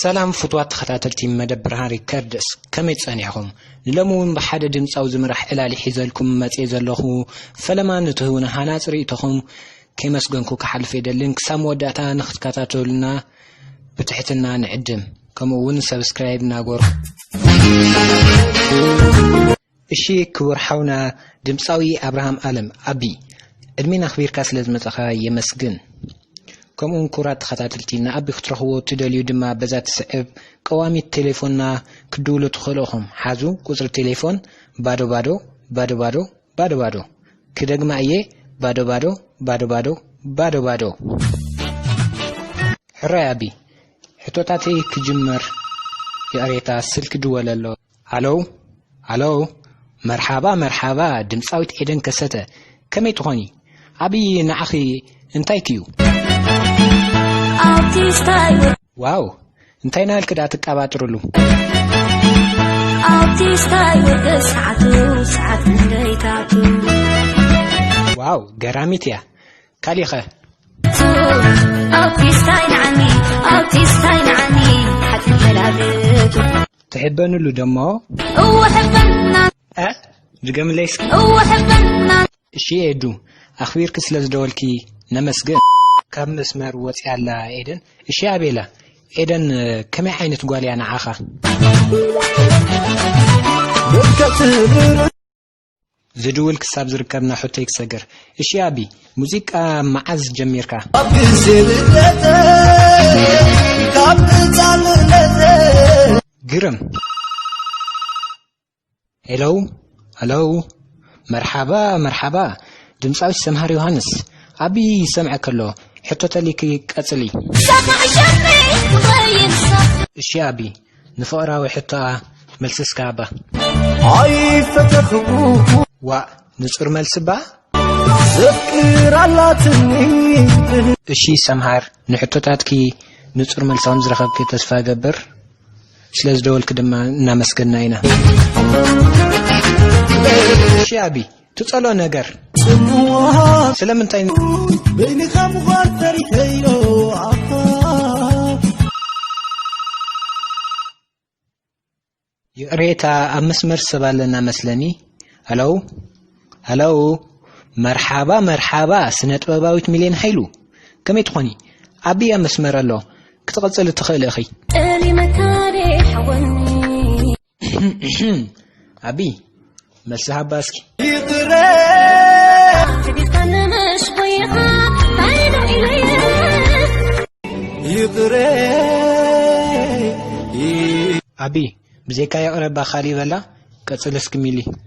ሰላም ፍትዋት ተኸታተልቲ መደብ ብርሃን ሪከርድስ ከመይ ጸኒዕኹም ሎሚ እውን ብሓደ ድምፃዊ ዝምራሕ ዕላሊ ሒዘልኩም መፅኤ ዘለኹ ፈለማ ንትህቡና ሃናፅ ርእቶኹም ከይመስገንኩ ክሓልፍ የደልን ክሳብ መወዳእታ ንክትከታተሉና ብትሕትና ንዕድም ከምኡ እውን ሰብስክራይብ ናጎርኩ እሺ ክቡር ሓውና ድምጻዊ ኣብርሃም ኣለም፣ ኣቢ፣ ዕድሜን ኣኽቢርካ ስለ ዝመጻኻ የመስግን። ከምኡውን ክቡራት ተኸታተልቲ ንኣቢ ክትረኽብዎ እትደልዩ ድማ በዛ እትስዕብ ቀዋሚት ቴሌፎንና ክትድውሉ ትኽእሉ ኢኹም። ሓዙ ቁጽሪ ቴሌፎን ባዶ ባዶ ባዶ ባዶ ባዶ ባዶ ክደግማ እየ ባዶ ባዶ ባዶ ባዶ ባዶ ባዶ። ሕራይ ኣቢ፣ ሕቶታተይ ክጅምር ይቕሬታ ስልኪ ድወለሎ። ሃሎው ሃሎው መርሓባ መርሓባ ድምጻዊት ኤደን ከሰተ ከመይ ትኾኒ ኣብይ ንዓኺ እንታይ ክዩ ዋው እንታይ ናልክ ዳ ትቀባጥርሉ ዋው ገራሚት እያ ካሊእኸ? ትሕበንሉ ደሞ እ ድገምለይ እስኪ እሺ ኤዱ ኣኽቢርኪ ስለ ዝደወልኪ ነመስግን። ካብ መስመር ወፂኣ ኣላ ኤደን። እሺ ኣቤላ ኤደን ከመይ ዓይነት ጓል እያ ንዓኻ? ዝድውል ክሳብ ዝርከብ ናሑተይ ክሰግር። እሺ ኣቢ ሙዚቃ መዓዝ ጀሚርካ? ኣብ ግዜ ልደተይ ካብ ህጻንነተይ ግርም ሄሎ ሄሎ መርሓባ መርሓባ ድምጻዊት ሰምሃር ዮሃንስ ኣቢ ይሰምዐ ከሎ ሕቶ ተሊኪ ቀጽሊ። ሰማይ ሸመይ ትኸይድ ሳዕ እሺ ኣቢ ንፍቕራዊ ሕቶኣ መልሲ እስካ እባ ኣይፈተኽኩ ዋእ ንጹር መልሲ እባ ዘፍቅር ኣላትኒ እሺ ሰምሃር ንሕቶታትኪ ንጹር መልሲ ከም ዝረኸብኪ ተስፋ እገብር ስለ ዝደወልኪ ድማ እናመስገና ኢና እሺ ኣቢ ትጸልኦ ነገር ስለምንታይ በይንኻ ምዃን ፈሪሐዮ ይቕሬታ ኣብ መስመር ሰብ ኣለና መስለኒ ሃለው ሃለው መርሓባ መርሓባ ስነ ጥበባዊት ሚልዮን ሃይሉ ከመይ ትኾኒ ዓብያ መስመር ኣሎ ክትቕፅል እትኽእል እኺ ኣቢ መልሲ ሃባ እስኪ ኣቢ ብዘይካ ይቕረባ ካሊእ በላ ቀፅል እስኪ ሚሊ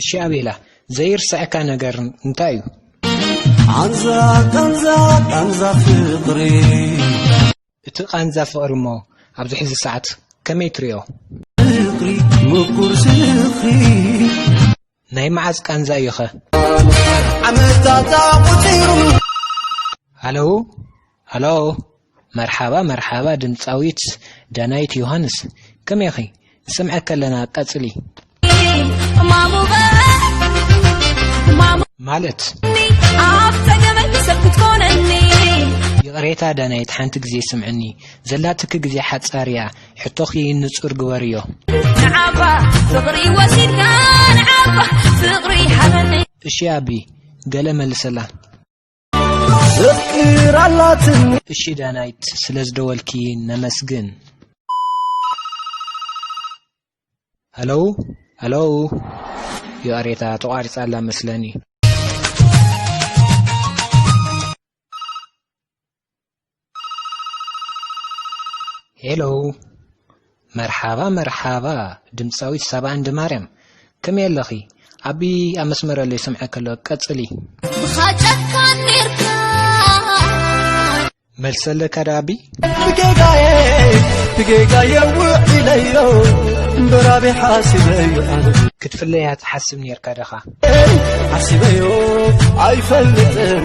እሺ ኣቤላ ዘይርሰዐካ ነገር እንታይ እዩ ቃንዛ ቃንዛ ቃንዛ ፍቕሪ እቲ ቃንዛ ፍቕሪ እሞ ኣብዚ ሕዚ ሰዓት ከመይ ትሪኦ ፍቕሪ ምቁር ዝኽሪ ናይ መዓዝ ቃንዛ እዩኸ? ዓመታት ኣቁጺሩ። ሃለው ሃሎ መርሓባ መርሓባ ድምጻዊት ዳናይት ዮሃንስ ከመይ ኢኺ ንሰምዐኪ ኣለና ቀጽሊ ይቕሬታ ዳናይት ሓንቲ ግዜ ስምዕኒ ዘላትኪ ግዜ ሓጻር እያ ሕቶኺ ንጹር ግበርዮ። ንዓባ ፍቕሪ ወሲድካ ንዓባ ፍቕሪ ሃበኒ። እሺ ኣቢ ገለ መልሰላ። ዘፍቅር ኣላትኒ። እሺ ዳናይት ስለ ዝደወልኪ ነመስግን። ሀሎ ሀሎ የዋሬታ ተቋሪጻላ መስለኒ ሄሎ መርሓባ መርሓባ ድምፃዊት ሳባ እንድ ማርያም ከመይ ኣለኺ ዓቢ ኣብ መስመር ኣሎ ይሰምዐ ከሎ ቀፅሊ ብኻጨካ ኔርካ መልሲ ኣለካ ዶ ኣቢ ብጌጋየ ብጌጋየ ውዒለዮ እምበራቢ ሓሲበዮ ክትፍለያ ትሓስብ ኔርካ ደኻ ሓሲበዮ ኣይፈልጥን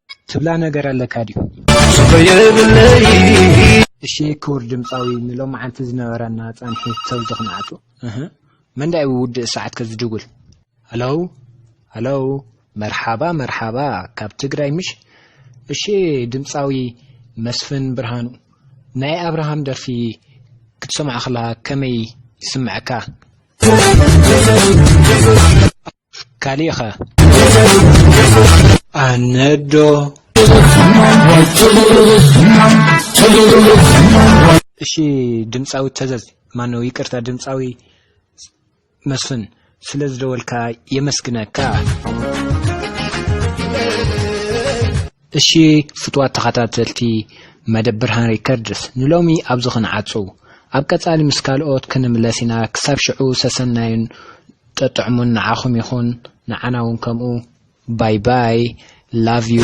ትብላ ነገር ኣለካ ድዩ? እሺ ክቡር ድምጻዊ ንሎማዓንቲ ዝነበረና ጻንሒት ሰብ ዝኽናዓቱ እህ መን ዳዩ ውድእ ሰዓት ከ ዝድውል ሃሎው ሃሎው መርሓባ መርሓባ ካብ ትግራይ ምሽ እሺ ድምጻዊ መስፍን ብርሃኑ ናይ ኣብርሃም ደርፊ ክትሰምዖ ከለኻ ከመይ ይስምዐካ? ካሊእ ከ ኣነዶ እሺ ድምጻዊ ተዘዝ ማነው ይቅርታ ድምጻዊ መስፍን ስለ ዝደወልካ የመስግነካ እሺ ፍትዋት ተኸታተልቲ መደብ ብርሃን ሪከርድስ ንሎሚ ኣብዚ ክንዓጹ ኣብ ቀጻሊ ምስ ካልኦት ክንምለስ ኢና ክሳብ ሽዑ ሰሰናዩን ጥጥዕሙን ንዓኹም ይኹን ንዓና ውን ከምኡ ባይ ባይ love you።